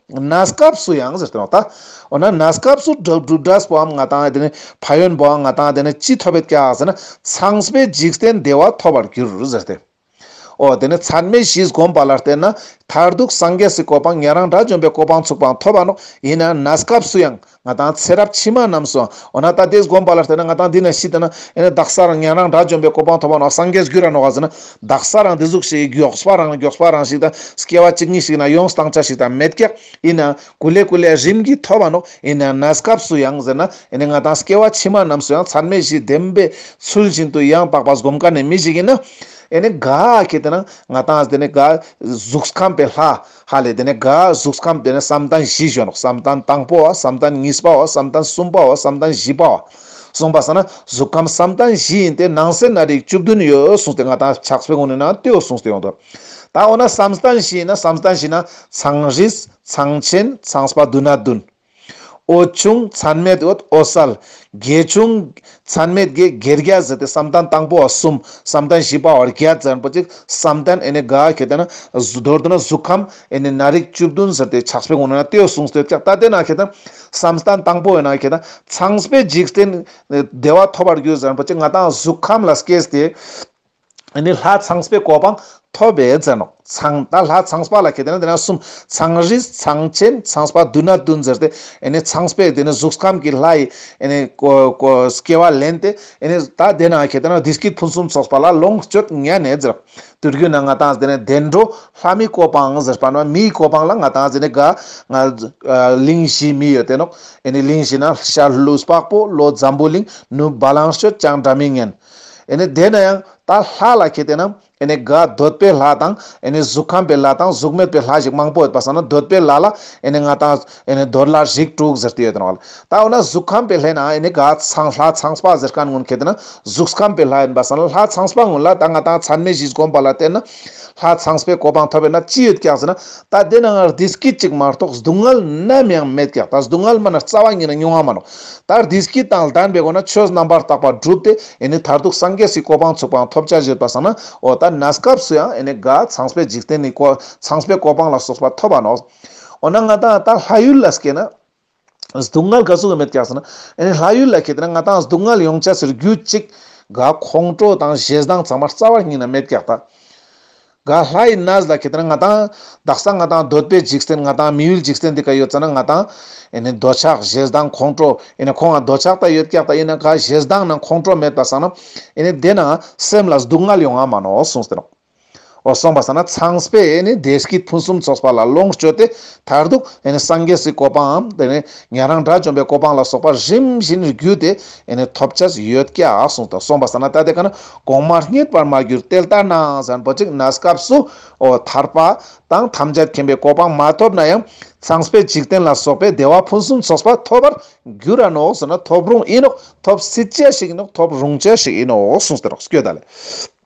ན་སྐབས་སུ་ཡང་ཟེར་ཏེ་རོགས་ལྟ། འོ་ན་ན་སྐབས་སུ་སྒྲུབ་སྒྲས་པའམ་ང་དང་དེ་ནི་ཕ་ཡོན་པའང་ང་དང་དེ་ནི་ཅི་ཐོབ་བེད་ཀྱང་ཟེར་ན་ཚངས་པའི་འཇིག་རྟེན་བདེ་བ་ཐོབ་པར་འགྱུར་ཟེར་ཏེ། འོ་དེ་ནི་མཚན་མའི་གཞིས་བསྒོམས་པ་ལ་བརྟེན་ན་མཐར་ཐུག་སངས་རྒྱས་སུ་གོ་འཕང་ཉན་རང་དགྲ་བཅོམ་པའི་གོ་འཕང་ཚུགས་པའང་ཐོབ་པ་ནོ་ཡིན་ན་ན་སྐབས་སུ་ཡང། ང་དང་ཚེ་རབས་ཕྱི་མ་རྣམས་སུ། འོ་ན་ད་དེས་སྒོམ་པ་ལ་བལྟས་ན་ང་དང་འདི་ན་ཤི་འདི་ན་ཡོད་ན་བདག་ས་རང་ཉན་རང་དགྲ་བཅོམ་པའི་གོ་འཕང་ཐོབ་པ་ནོ་སངས་རྒྱས་རྒྱུད་རང་ནོ་ག་ཟེར་ན། བདག་ས་རང་དེ་གཟུགས་ཞིག་མགྱོགས་པ་རང་ལ་མགྱོགས་པ་རང་ཞིག་དང། སྐྱེ་བ་གཅིག་ཉིད་ཞིག་ན་ཡོངས་སུ་དྭངས་ཆ་ཞིག་དང་མེད་ཀྱང། ཡིན་ནའང། གུ་ལས་གུ་ལས་རིམ་གྱིས་ཐོབ་པ་ནོ། ཡིན་ནའང་ན་སྐབས་སུ་ཡང་ཟེར་ན། ཡིན་ནའང་ང་དང་སྐྱེ་བ་ཕྱི་མ་རྣམས་སུ་ཡང་ཚར་མེད་བཞིས་བདེན་པའི་ཚུལ་བཞིན་དུ་ཡང་དག་པར་སྒོམ་དཀའ་ནས་མི་ཞིག་ཡིན་ན། ཡིན་ནའང། གལ་ཏེ་ན། ང་དང་འདི་ནི། གཟུགས་ཁམས་པའི་ལྷ། ཧ་ལས་དེ་ནས་དགའ་གཟུགས་ཁམས་དེ་ནས་བསམ་གཏན་བཞི་བཞོན་ནོ་བསམ་གཏན་དང་པོ་བ་བསམ་གཏན་གཉིས་པ་བ་བསམ་གཏན་གསུམ་པ་བ་བསམ་གཏན་བཞི་པ་བ། གསུངས་པ་ས་ན་གཟུགས་ཁམས་བསམ་གཏན་བཞི་ཡིན་ཏེ་ནང་གསེས་ན་རིགས་བཅུ་བདུན་ཡོད་གསུངས་ཏེ་ང་དང་ཕྱག་སྤེལ་དགོངས་ནས་ན་ལྟོས་གསུངས་ཏེ་ཡོང་དོ། ད་འོ་ན་བསམ་གཏན་བཞི་ཡིན་ན་བསམ་གཏན་བཞི་ན་ཚངས་རིས་ཚངས་ཆེན་ཚངས་སྤ་བདུན་ན་བདུན། ཨོ་ཆུང་ཚན་མེད་འོད་ཨོ་གསལ། རྒྱལ་ཆུང་ཚན་མེད་རྒྱལ་རྒྱལ་རྒྱལ་བཟི་སྟེ་བསམ་གཏན་དང་པོ་བ་གསུམ་བསམ་གཏན་བཞི་པ་བར་རྒྱལ་ཙན་པོ་གཅིག་བསམ་གཏན་ཨེ་ནས་དགའ་ཁྱེད་ལྟས་ན་མདོར་དུ་ན་གཟུགས་ཁམས་ཨེ་ནས་ན་རིགས་བཅུ་བདུན་ཟེར་ཏེ་ཆགས་པའི་ངོ་ནས་ན་ལྟོས་གསུངས་ལྟོས་ཀྱང་ལྟ་སྟེ་ན་ཁྱེད་བསམ་གཏན་དང་པོ་བས་ན་ཁྱེད་ཚངས་པའི་འཇིག་རྟེན་བདེ་བ་ཐོབ་པར་འགྱུར་ཙན་པོ་གཅིག་ང་དང་གཟུགས་ཁམས་ལ་སྐྱེས་ཏེ། འདི་ནི་ལྷ་ཚངས་པའི་གོ་འཕང་ཐོབ་པའི་རྫས་ནོ། ཚངས་དང་ལྷ་ཚངས་པ་ལ་གལ་ཏེ་ན་དེ་ན་གསུམ། ཚངས་རིས་ཚངས་ཆེན་ཚངས་པ་བདུན་ན་བདུན་ཟེར་ཏེ། ཚངས་པས་དེ་ནི་གཟུགས་ཁམས་ཀྱི་ལྷ་ཡི། སྐྱེ་བ་ལེན་ཏེ། ད་དེ་ན་གལ་ཏེ་ན་འདི་སྐད་ཕུན་སུམ་ཚོགས་པ་ལ་ལོངས་སྤྱོད་ཉན་ནས་ཟེར། དུས་ཀྱི་ནང་ང་དང་དེ་ནི་བདེ་འགྲོ་ལྷ་མིའི་གོ་འཕང་ཟེར། བར་མ་མིའི་གོ་འཕང་ལ་ང་དང་དེ་ནི་དགའ། གླིང་བཞི་མི་ཡོད་དེ་ནོ། གླིང་བཞི་ན་ཤར་ལྷོའི་བ་སྤུ་ལོ་འཛམ་བུའི་གླིང། ནུབ་བ་ལང་སྤྱོད་ཅང་སྒྲ་མི་སྙན། ནས་དེ་ན་ཡང་ད་ལྷ་ལ་ཁྱེད་བལྟས་ན་ནས་དགའ་འདོད་པའི་ལྷ་དང་ནས་གཟུགས་ཁམས་པའི་ལྷ་དང་གཟུགས་མེད་པའི་ལྷ་ཞིག་མང་པོ་ཡོད་པ་བསམ་ན་འདོད་པའི་ལྷ་ལ་ནས་ང་དང་ནས་འདོད་ལྷ་ཞིག་དྲུག་ཟེར་དུས་ཡོད་དོ་ལ། ད་འོ་ན་གཟུགས་ཁམས་པའི་ལྷས་ན་ནས་དགའ་ཚངས་ལྷ་ཚངས་པ་ཟེར་ག་སྔོན་ཁྱེད་བལྟས་ན་གཟུགས་ཁམས་པའི་ལྷ་ཡིན་པ་བསམ་ན་ལྷ་ཚངས་པ་སྔོན་ལ་ད་ང་དང་མཚན་མའི་གཞི་བསྒོམ་པ་ལ་བལྟས་ན་ལྷ་ཚངས་པའི་གོ་འཕང་ཐོབ་པས་ན་ཅི་ཡོད་ཀྱང་ཟེར་ན་ད་དེ་ན་ང་རྡིས་སྐད་ཅིག་མ་གཏོགས་སྡུག་བསྔལ་ནམ་ཡང་མེད་ཀྱང་ད་སྡུག་བསྔལ་མ་ན་རྩ་བ་ཉིད་ན་མྱོང་བ་མ་ནོ་ལྟར་དེ་སྐད་དང་ལྡན་པའི་སྒོ་ནས་ཆོས་རྣམ་པར་དག་པ་བསྒྲུབས་ཏེ་ནི་མཐར་ཐུག་སངས་རྒྱས་སུའི་གོ་འཕང་ཚུགས་པའང་ཐོབ་བྱ་བཞེད་པར་བསམས་ན། འོ་ད་ནས་སྐབས་སུ་ཡང་ནི་དགའ། ཚངས་པའི་འཇིག་རྟེན་ནི་གོ། ཚངས་པའི་གོ་འཕང་ལ་སོགས་པ་ཐོབ་པ་ནོ། འོ་ན་ང་དང་ད་ལྷ་ཡུལ་ལ་སྐྱེས་ན། སྡུག་བསྔལ་ག་ཚོད་མེད་ཀྱང་སྲིད་ན། ལྷ་ཡུལ་ལ་སྐྱེས་ཏེ་ན་ང་དང་སྡུག་བསྔལ་ཡོངས་བྱ་ཟེར་རྒྱུ་གཅིག། དགའ། ཁོང་ཁྲོ་དང་བཞེད་སྡང་ཚང་མར་རྩ་བར་སྙིང་ན་མེད་ཀྱང་ལྟ། ག་ལྷ་ཡི་ན་བཟླ་ཁྱེད་ལྟར་ང་དང། བདག་ས་ང་དང་འདོད་པའི་འཇིག་རྟེན་ང་དང་མི་ཡུལ་འཇིག་རྟེན་འདི་ག་ཡོད་ཙ་ན་ང་དང། ཨེ་ནས་འདོད་ཆགས་བཞེས་སྡང་ཁོང་ཁྲོ་ཨེ་ནས་ཁོང་ང་འདོད་ཆགས་དག་ཡོད་སྐྱག་དག་ཡིན་ན་ག་བཞེས་སྡང་ན་ཁོང་ཁྲོ་མེད་པ་ས་ན་ཨེ་ནས་བདེ་ན་སེམས་ལ་སྡུག་བསྔལ་ཡོང་ང་མ་ནོ་གསུངས་སྟེ། འོ་སོང་པ་ས་ན་ཚངས་པས་ཨེ་ནས་བདེ་སྐྱིད་ཕུན་སུམ་ཚོགས་པ་ལ་ལོངས་སྤྱོད་དེ་མཐར་ཐུག་ཨེ་ནས་སངས་རྒྱས་སུའི་གོ་འཕང་ཨམ་ཨེ་ནས་ཉན་རང་དགྲ་བཅོམ་པའི་གོ་འཕང་ལ་སོགས་པ་རིམ་བཞིན་བརྒྱུད་དེ་ཨེ་ནས་ཐོབ་བྱ་ཞིག་ཡོད་སྐད་ཨ་གསུངས་དང་སོང་པ་ས་ན་ལྟ་དེ་ག་ན་གོང་མ་རྙེད་པར་མ་གྱུར་དེ་ལྟར་ནའང་བཟང་པོ་ཅིག་ན་སྐབས་སུ་འོ་ཐར་པ་དང་ཐམས་ཅད་མཁྱེན་པའི་གོ་འཕང་མ་ཐོབ་ན་ཡང་ཚངས་པའི་འཇིག་རྟེན་ལ་སོགས་པའི་བདེ་བ་ཕུན་སུམ་ཚོགས་པ་ཐོབ་པར་འགྱུར་ར་ནོ་ཟེར་ན་ཐོབ་རུང་ཨེ་ནོ་ཐོབ་སྲིད་བྱ་ཞིག་ཨེ་ནོ་ཐོབ་རུང་བྱ་ཞིག་ཨེ་ནོ་གསུངས་ཟེར་རོ་སྐྱོ་ད་ལས།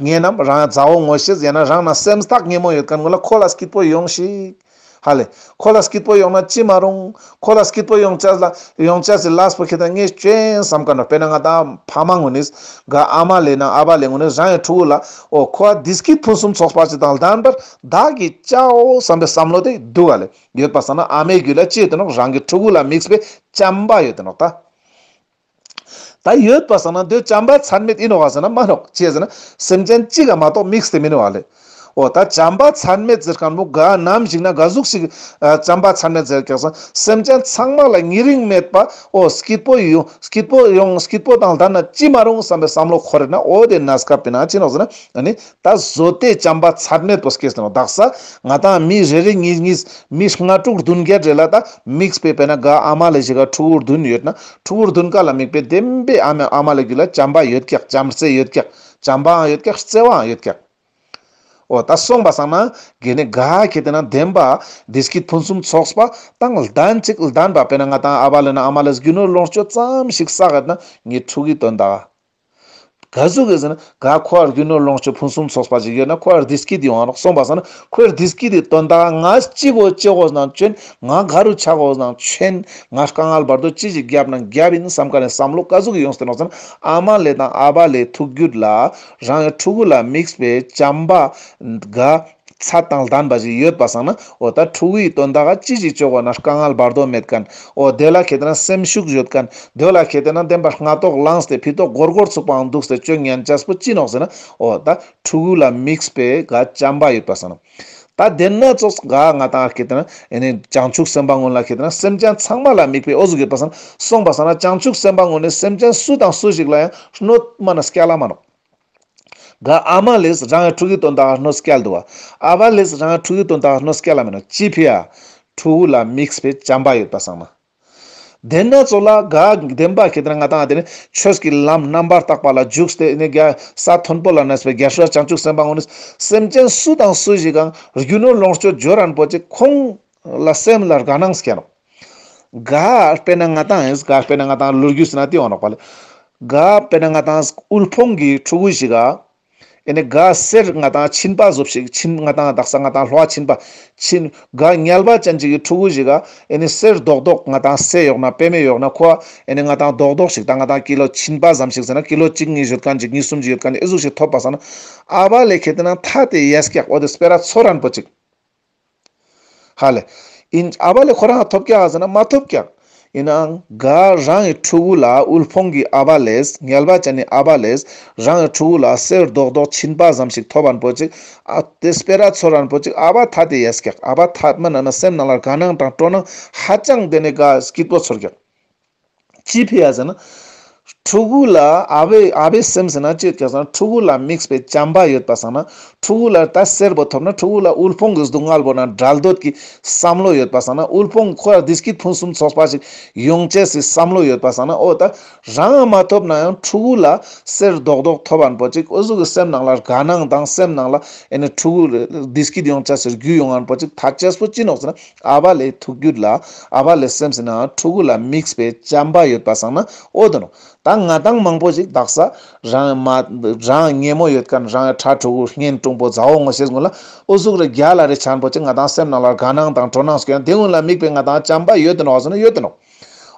ངེད་རྣམས་རང་ཡང་མཛའ་བོ་ངོ་ཤེས་ཟེར་ན་རང་ན་སེམས་ཐག་ཉེ་མོ་ཡོད་དཀར་མགོ་ལ་ཁོ་ལ་སྐྱིད་པོ་ཡོང་ཞིག། ཧ་ལས། ཁོ་ལ་སྐྱིད་པོ་ཡོང་ན་ཅི་མ་རུང། ཁོ་ལ་སྐྱིད་པོ་ཡོང་བྱ་ལ་ཡོང་བྱ་ཟེར་ལགས་པོ་ཁྱེད་རང་ངས་སྐྱོན་བསམ་དཀའ་འདྲ་དཔེར་ན་ང་ད་ཕ་མ་ངོ་ནས་དགའ་ཨ་མ་ལས་ན་ཨ་ཕ་ལས་ངོ་ནས་རང་ཡང་ཕྲུ་གུ་ལ་ཨོ་ཁོ་ཨ་དིས་ཀྱིས་ཕུན་སུམ་ཚོགས་པ་ཞིག་དང་ལྡན་པར་བདག་གིས་བཅའོ་བསམ་པའི་བསམ་བློ་དེ་སྡུག་ཨ་ལས་ཡོད་པ་བསམ་ན་ཨ་མའི་རྒྱུད་ལ་ཅི་ཡོད་དེ་ནོག་རང་གི་ཕྲུ་གུ་ལ་དམིགས་པའི་བྱམས་པ་ཡོད་དེ་ནོག་ད། ད་ཡོད་པ་ཟེར་ན་འདོད་བྱ་འབའ་ཚར་མེད་ཡིན་ནོ་ཟེར་ན་མ་ནོག་ཅེས་ཟེར་ན་སེམས་ཅན་གཅིག་གམ་མ་གཏོགས་དམིགས་བསལ་མིན་ནོ་ལེ། འོ་ད་བྱ་འབའ་ཚར་མེད་ཟེར་གང་མོ་ག་ནམ་ཞིག་ན་ག་གཟུགས་ཤིག་གིས་བྱ་འབའ་ཚར་མེད་ཟེར་ཀྱང་སེམས་ཅན་ཚང་མ་ལ་ཉེ་རིང་མེད་པ་འོ་སྐྱིད་པོ་ཡོང་སྐྱིད་པོ་ཡོང་སྐྱིད་པོ་དང་ལྡན་ན་ཅི་མ་རུང་བསམ་པའི་བསམ་བློ་འཁོར་རེ་ན་འོ་དེ་ན་སྐབས་དེ་ན་ཅི་ནོག་ཟེར་ན་ནི་ད་བཟོད་ལྟས་བྱམས་པ་ཚར་མེད་པོ་སྐྱེས་ནོ་དྭགས་ས་ང་དང་མི་རེ་རེ་གཉིས་གཉིས་མི་ལྔ་དྲུག་བདུན་བརྒྱད་བྲེ་ལ་ད་དམིགས་པའི་པད་ན་ག་ཨ་མ་ལས་བཞི་ག་ཕྲུ་བུར་བདུན་ཡོད་ན་ཕྲུ་བུར་བདུན་ག་ལ་དམིགས་པའི་བདེན་པའི་ཨ་མའི་ཨ་མ་ལས་རྒྱུད་ལ་བྱམས་པ་ཡོད་ཀྱག་བྱམས་བརྩེ་ཡོད་ཀྱག་བྱམས་པའང་ཡོད་ཀྱག་བརྩེ་བའང་ཡོད་ཀྱག། འོ་ད་སོང་པ་སང་ན་གེ་ནི་ག་ཁྱེད་བལྟས་ན་བདེན་པ་བདེ་སྐྱིད་ཕུན་སུམ་ཚོགས་པ་དང་ལྡན་ཅིག་ལྡན་པ་པད་ན་ང་དང་ཨ་བ་ལས་ན་ཨ་མ་ལས་བཞི་ནོར་ལོངས་སྤྱོད་ཙམ་ཞིག་བསགས་ཡོད་ན་ངའི་ཕྲུ་གུའི་དོན་དག་ག་གཟུགས་ཀྱིས་ཟེར་ན། ག་ཁོ་ཨར་རྒྱུ་ནོར་ལོངས་སྤྱོད་ཕུན་སུམ་ཚོགས་པ་ཞིག་ཡོད་ན་ཁོ་ཨར་དིས་ཀི་དེ་ཨང་རོགས་གསུངས་པ་ཟེར་ན་ཁོ་ཨར་དིས་ཀི་དེ་དོན་དག་ང་ཅི་གོ་ཅི་ཧོས་ན་བཅོན་ང་ག་རུ་ཆགས་ཧོས་ན་ཆོན་ང་དཀའ་ངལ་བར་དོ་ཅི་ཞིག་བརྒྱབ་ན་བརྒྱབ་ཡིན་བསམ་ག་ནས་བསམ་བློ་ག་གཟུགས་ཀྱིས་ཡོང་ཟེར་རོགས་ཟེར་ན་ཨ་མ་ལས་དང་ཨ་ཕ་ལས་ཐུགས་རྒྱུད་ལ། རང་ཡང་ཕྲུ་གུ་ལ་དམིགས་པའི་བྱམས་པ། དགའ། ཚ་དང་ལྡན་པ་ཞིག་ཡོད་པ་བསམ་ན་འོ་ད་ཕྲུ་གུ་ཡི་དོན་དག་ག་ཅི་ཞིག་བཅོལ་བ་ན་དཀའ་ངལ་འབར་དོགས་མེད་གན་འོ་དེ་ལ་གལ་ཏེ་ན་སེམས་ཤུགས་གཞོལ་གན་འདོད་ལ་གལ་ཏེ་ན་བདེན་པར་སྔ་ལྟོགས་ལངས་ཏེ་ཕི་ལྟོགས་སྒོར་སྒོར་ཚུགས་པའང་འདུག་ཟེར་སྐྱོ་ཉན་སྐྱ་སྤུ་ཅི་ནོག་ཟེར་ན་འོ་ད་ཕྲུ་གུ་ལ་མིགས་པས་ག་ཅམ་པ་ཡོད་པ་བསམ། ད་བདེན་སྣ་ཚོགས་ག་ང་དང་གལ་ཏེ་ན་ཨེ་ནས་བྱང་ཆུབ་སེམས་དཔའ་སྔོན་ལ་གལ་ཏེ་ན་སེམས་ཅན་ཚང་མ་ལ་མིགས་པས་ཨོ་ཟུག་ཡོད་པ་བསམ་གསུངས་པ་བསམ་ན་བྱང་ཆུབ་སེམས་དཔའ་སྔོན་ནས་སེམས་ཅན་སུ་དང་སུ་ཞིག་ལ་ཡང་ཧྲནོད་མ་ན་སྐྱ་ལ་མ་ནོག། ག་ཨ་མ་ལིས་རང་གི་ཕྲུ་གུའི་དོན་དག་ལ་གནོད་སྐྱེལ་འདུག་ཨ་ཕ་ལིས་རང་གི་ཕྲུ་གུའི་དོན་དག་ལ་གནོད་སྐྱེལ་ལ་མེད་ནོ་ཅི་ཕིས་ཨ་ཕྲུ་གུ་ལ་དམིགས་བའི་བྱམས་པ་ཡོད་པ་བསམ་ན། དེས་ན་ཚོ་ལ་ག་བདེན་པ་ཁྱེད་རང་ང་དང་ཨ་དེ་ནི་ཆོས་ཀྱི་ལམ་རྣམ་པར་དག་པ་ལ་འཇུག་སྟེ་ནི་རྒྱལ་ས་མཐོན་པོ་ལ་གནས་པའི་རྒྱལ་སྲས་བྱང་ཆུབ་སེམས་དཔའ་དངོས་ནི་སེམས་ཅན་སུ་དང་སུ་ཞིག་གང་རྒྱུ་ནོར་ལོངས་སྤྱོད་འཇོལ་རན་པོ་ཅིག་ཁོང་ལ་སེམས་ལ་དགའ་སྣང་སྐྱེ་རོགས། དགའ་དཔེ་ན་ང་དང་དགའ་དཔེ་ན་ང་དང་ལོ་རྒྱུས་ཟེར་ན་དེ་ཡོང་རོགས་པ། དགའ་དཔེ་ན་ང་དང་དབུལ་ཕོངས་ཀྱི་ཕྲུ་གུ་ཞིག། ཨེ་ནས་དགའ་སེར་ང་དང་མཆིན་པ་གཟུབ་ཞིག་མཆིན་ང་དང་དག་ས་ང་དང་ལྷོ་ཨ་མཆིན་པ། མཆིན། དགའ་ཉལ་བ་ཅན་ཅིག་གི་ཕྲུ་གུ་ཞིག། ཨེ་ནས་སེར་རྡོག་རྡོག་ང་དང་སེ་ཡོག་ན་དཔེ་མེད་ཡོག་ན་ཁོ། ཨེ་ནས་ང་དང་རྡོག་རྡོག་ཞིག་དང་ང་དང་ཀི་ལོ་མཆིན་པ་ཟམ་ཞིག་ཟེར་ན་ཀི་ལོ་གཅིག་གཉིས་བཞུར་ག་འཇིག་གཉིས་གསུམ་གྱི་ཡོད་ག་ནས་ཨེ་གཟུགས་ཞིག་ཐོབ་པ་ཟ་ན། ཨ་བ་ལས་ཁེ་ཏི་ན་ཐ་དེ་ཡས་ཀྱག་ཨོ་དེ་སྤེ་ར་ཚོ་རན་པོ་ཅིག། ཧ་ལས། ཨིན། ཨ་བ་ལས་ཁོ་རང་ལ་ཐོབ་ཀྱང་ཟེར་ན་མ་ཐོབ་ཀྱང། ཡིན་ནའང། དགའ། རང་གི་ཕྲུ་གུ་ལ་དབུལ་ཕོངས་ཀྱི་ཨ་བ་ལས་ངལ་བ་བྱས་ནས་ཨ་བ་ལས་རང་གི་ཕྲུ་གུ་ལ་གསེར་རྡོག་རྡོག་བྱིན་པ་ཙམ་ཞིག་ཐོབ་རན་ཕོད་ཅིག་ཨ། དེ་སྤེ་ར་ཚོར་རན་ཕོད་ཅིག་ཨ་བ་ཐ་དེ་ཡས་ཀྱག་ཨ་བ་ཐ་མི་ན་ན་སེམས་ནང་ལ་དགའ་སྣང་དང་སྤྲོ་སྣང་ཧ་ཅང་བདེ་ནས་དགའ་སྐྱིད་པོ་ཚོར་ཀྱག། ཅི་ཕེ་ཡ་ཟེར་ན། ཕྲུ་གུ་ལ་ཨ་བས་ཨ་བས་སེམས་ཟེར་ན་ཅེས་ཀྱང་ཕྲུ་གུ་ལ་དམིགས་པའི་བྱམས་པ་ཡོད་པ་བསམ་ན། ཕྲུ་གུ་ལ་ལྟ་སེར་པོ་ཐོབ་ན་ཕྲུ་གུ་ལ་དབུལ་ཕོངས་ཀྱི་སྡུག་བསྔལ་བོར་ན་དགྲལ་འདོད་ཀྱི་བསམ་བློ་ཡོད་པ་བསམ་ན་དབུལ་ཕོངས་ཁོ་ལ་འདི་སྐྱིད་ཕུན་སུམ་ཚོགས་པ་ཞིག་ཡོང་ཆེད་སའི་བསམ་བློ་ཡོད་པ་བསམ་ན་ཨོ་ད། རང་ཨ་མ་ཐོབ་ན་ཡང་ཕྲུ་གུ་ལ་སེར་རྡོག་རྡོག་ཐོབ་བར་འབོད་ཅིག་ཨུ་གཟུགས་ཀྱི་སེམས་ནང་ལ་དགའ་སྣང་དང་སེམས་ནང་ལ་ཨེ་ནས་ཕྲུ་གུ་འདི་སྐྱིད་ཡོང་ཆེད་ཟེར་རྒྱུ་ཡོང་བར་འབོད་ཅིག་ད་ཅེས་པོ་ཅི་ནོག་ཟེར་ན། ཨ་བ་ལའི་ཐུགས་རྒྱུད་ལ་ཨ་བ་ལའི་སེམས་ཟིན་ནའང་ཕྲུ་གུ་ལ་དམིགས་པའི་བྱམས་པ་ཡོད་པ་བཟང་ན་ཨོ་དོ་ནོ། ད་ང་དང་མང་པོ་ཞིག་བདག་ས་རང་ཡང་མ། རང་ཡང་ངན་མོ་ཡོད་དཀའ་ན་རང་ཡང་ཁྲ་ཕྲུ་གུ་ངན་ཀྲུང་པོ་ཛའོ་ངོ་ཤེས་དགོན་ལ་ཨུ་གཟུགས་རེ་རྒྱ་ལ་རེ་བྱར་འབོད་ཅིག་ང་དང་སེམས་ནང་ལ་དགའ་སྣང་དང་སྤྲོ་སྣང་སྐྱེ་ན་དེ་སྔོན་ལ་དམིགས་པའི་ང་དང་བྱམས་པ་ཡོད་དོ་ནོ་བ་བཟང་ན་ཡོད་དོ་ནོ།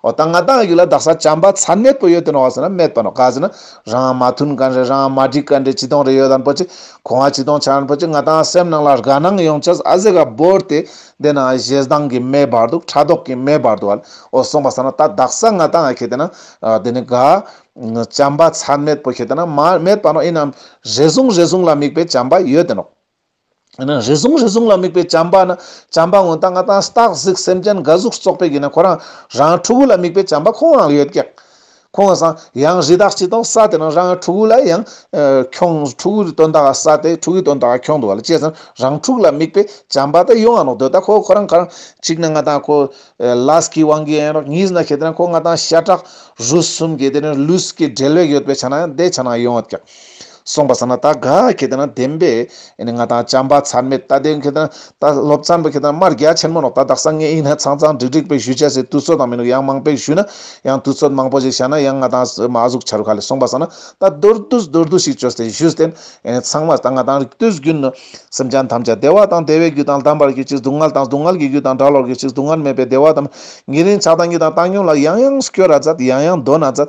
འོ་ད་ང་དང་ཡུལ་ལ་བདག་ས་བྱམས་པ་ཚ་གནས་སྤོ་ཡོད་དེ་ནོ་ཟེར་ན་མེད་པ་ནོ་ག་ཟེར་ན་རང་མ་མཐུན་ག་རེད་རང་མ་འགྲིག་ག་འདྲེ་ཅི་དོང་རེད་ཡོད་དམ་པོ་ཅི་གོ་ང་ཅི་དོང་ཆ་རན་པོ་ཅི་ང་དང་སེམས་ནང་ལ་རྒ་སྣང་ཡོང་ཆ་ཨ་ཟེ་ག་བོར་ཏེ་བསྡད་ན་ཞེ་སྡང་གི་མེ་འབར་འདུག་ཕྲ་དོག་གི་མེ་འབར་འདུག་ཨོ་སོང་པ་ཟ་ན་ད་བདག་ས་ང་དང་ཁེ་དེ་ན་དེ་ནི་ག། བྱམས་པ་ཚ་གནས་སྤོ་ཁེ་དེ་ན་མ་མེད་པ་ནོ་ཡིན་ནམ་རེ་ཟུང་རེ་ཟུང་ལ་དམིགས་པའི་བྱམས་པ་ཡོད་དེ་ནོ། ཡང་ན་རེ་ཟུང་རེ་ཟུང་ལ་དམིགས་པའི་བྱམས་པ་ནི་བྱམས་པ་ངོ་ད་ང་དང་སྟག་གཟིག་སེམས་ཅན་འགའ་གཟུགས་སུ་གསོག་པའི་གིས་ན་ཁོ་རང་རང་ཕྲུ་གུ་ལ་དམིགས་པའི་བྱམས་པ་ཁོང་རང་ལ་ཡོད་ཀྱང། ཁོང་གིས་སང་ཡང་རི་དྭགས་གཅིག་དང་ས་དེ་རང་རང་གི་ཕྲུ་གུ་ལ་ཡང། ཁྱོང་ཕྲུ་གུ་དོན་དག་ས་དེ་ཕྲུ་གུའི་དོན་དག་ཁྱོང་འདུག་ལ་ཅེས་སམ་རང་ཕྲུག་ལ་དམིགས་པའི་བྱམས་པ་དེ་ཡོང་ཨ་རོག་འདོད་ད་ཁོ་ཁོ་རང་ག་རང་གཅིག་ན་ང་དང་ཁོ། ལཱས་ཀི་ཝང་གིས་ཨེ་རོག་གཉིས་ན་ཁེ་དེ་ན་ཁོ་ང་དང་ཤ་ཁྲག་རུས་གསུམ་གྱི་དེ་ནི་ལུས་ཀྱི་འབྲེལ་བས་ཡོད་པའི་ཆ་ན་ཡང་དེ་ཆ་ན་ཡོད་ཀྱང། གསུངས་པ་ཟ་ན་ད་ག་གེ་དེ་ན་བདེན་པས་ནི་ང་དང་བྱམས་པ་ཚར་མེད་ད་དེ་གེ་དེ་ན་ད་སློབ་ཚན་པ་གེ་དེ་ན་མར་རྒྱ་ཆེན་མོ་ནོག་ད་དག་སང་ངས་ཡིག་སྣ་ཚང་ཚང་འགྲིག་འགྲིག་པས་ཞུ་བྱ་ཟེར་དུས་ཚོད་དང་མི་ནུག་ཡང་མང་པས་ཞུས་ན་ཡང་དུས་ཚོད་མང་པོ་ཞིག་བྱ་ན་ཡང་ང་དང་མ་གཟུགས་ཆ་རུ་ག་ལས་གསུངས་པ་ཟ་ན་ད་མདོར་བསྡུས་མདོར་བསྡུས་ཤིག་བྱོས་ཟེར་ཞུས་ཏེ་ཚང་མ་ད་ང་དང་རིགས་དུས་རྒྱུན་ནི་སེམས་ཅན་ཐམས་ཅད་བདེ་བ་དང་བདེ་བའི་རྒྱུ་དང་ལྡན་པར་རྒྱུ་གཅིག་སྡུག་བསྔལ་དང་སྡུག་བསྔལ་གྱི་རྒྱུ་དང་གྲགས་ལོག་རྒྱུ་གཅིག་སྡུག་བསྔལ་མེད་པའི་བདེ་བ་དང་ཉེ་རིང་ཆགས་སྡང་གཉིས་དང་བཏང་སྙོམས་ལ་ཡང་ཡང་སྐྱོ་ར་ཛད་ཡང་ཡང་འདོད་ན་ཛད་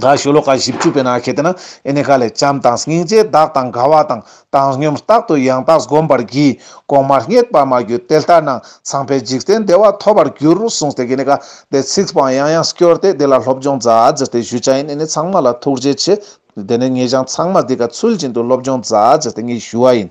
དགའ་བཞུ་ལོ་ཀ་བཞི་བཅུ་པའི་ནང་ཤེད་དེ་ན་ཨེ་ནི་ཀ་ལས་བྱམས་དང་སྙིང་རྗེའི་བདག་དང་དགའ་བ་དང་བཏང་སྙོམས་རྟག་ཏུ་ཡང་དག་བསྒོམ་པར་བགྱི། གོང་མ་རྙེད་པར་མ་གྱུར་དེ་ལྟར་ན་ཚངས་པའི་འཇིག་རྟེན་བདེ་བ་ཐོབ་པར་འགྱུར་རོ་གསུངས་ཏེ་ཀེ་ནི་ཀ་དེ་ཚིག་སྤང་ཡང་ཡང་སྐྱོར་ཏེ་དེ་ལ་སློབ་སྦྱོང་རྫ་འཛེར་ཏེ་བཞུད་བྱ་ཡིན་ཨེ་ནི་ཚངས་མ་ལ་ཐུགས་རྗེ་ཆེ། དེ་ནས་ངེད་ཅག་ཚངས་མ་འདི་ཀ་ཚུལ་བཞིན་དུ་སློབ་སྦྱོང་རྫ་འཛེར་ཏེ་ངེད་བཞུ་བ་ཡིན།